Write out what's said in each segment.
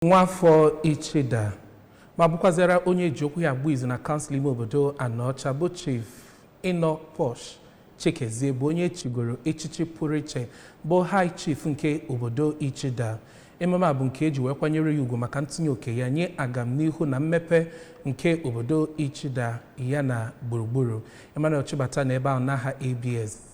nwafọ Ichida ma bụkwazịara onye e ji okwu ya agba izu na kansụl ime obodo Anaọcha bụ Chief Inoposh Chikezie bụ onye chigoro echichi pụrụ iche bụ High Chief nke obodo Ichida ememe a bụ nke e ji wee kwanyere ya ugwu maka ntinye oke ya nye agamnihu na mmepe nke obodo Ichida ya na gburugburu Emmanuel Chibata nọ ebe ahụ n'aha ABS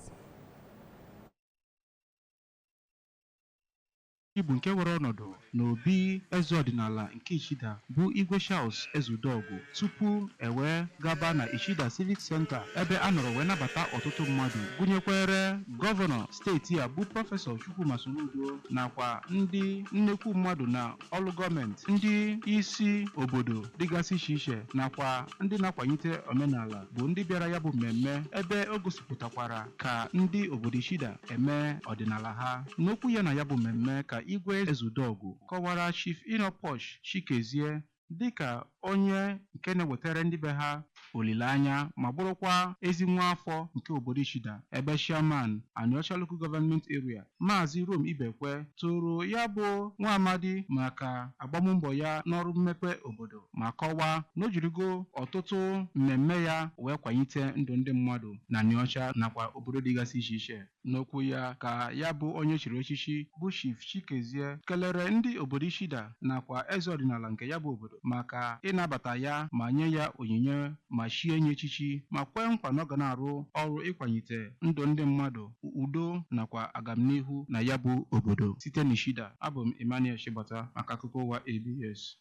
Ọ bụ nke were ọnọdụ n'obi eze ọdịnala nke Ichida bụ Igwe Charles Ezeudogu tupu e wee gaba na Ichida Civic Centre ebe a nọrọ wee nabata ọtụtụ mmadụ gụnyekwere gọvanọ steeti a bụ Prọfesọ Chukwuma Soludo nakwa ndị nnekwu mmadụ na ọrụ gọọmenti ndị isi obodo dịgasị iche iche nakwa ndị na-akwanyite omenala bụ ndị bịara ya bụ mmemme ebe o gosi pụtakwara ka ndị obodo Ichida eme ọdịnala ha. N'okwu ya na ya bụ mmemme ka Igwe Ezeudogu kọwara Chief Inoposh Chikezie dịka onye nke na-ewetara ndị be ha olileanya ma bụrụkwa ezi nwa afọ nke obodo Ichida ebe Chairman Anaọcha Local Government Area Maazị Rom Ibekwe toro ya bụ nwa amadi maka agbammbọ ya n'ọrụ mmepe obodo. ma kọwaa na o jirigo ọtụtụ mmemme ya wee kwanyite ndụ ndị mmadụ na Anaọcha nakwa obodo dịgasị iche iche. N'okwu ya ka ya bụ onye chiri echichi bụ Chief Chikezie kelere ndị obodo Ichida nakwa eze ọdịnala nke ya bụ obodo maka ịnabata ya ma nye ya onyinye ma chie ya echichi ma kwee nkwa na ọ ga na-arụ ọrụ ịkwanyite ndụ ndị mmadụ, udo nakwa agamnihu na ya bụ obodo. Site n'Ichida, abụ m Emmanuel Chibata maka akụkọ ụwa ABS.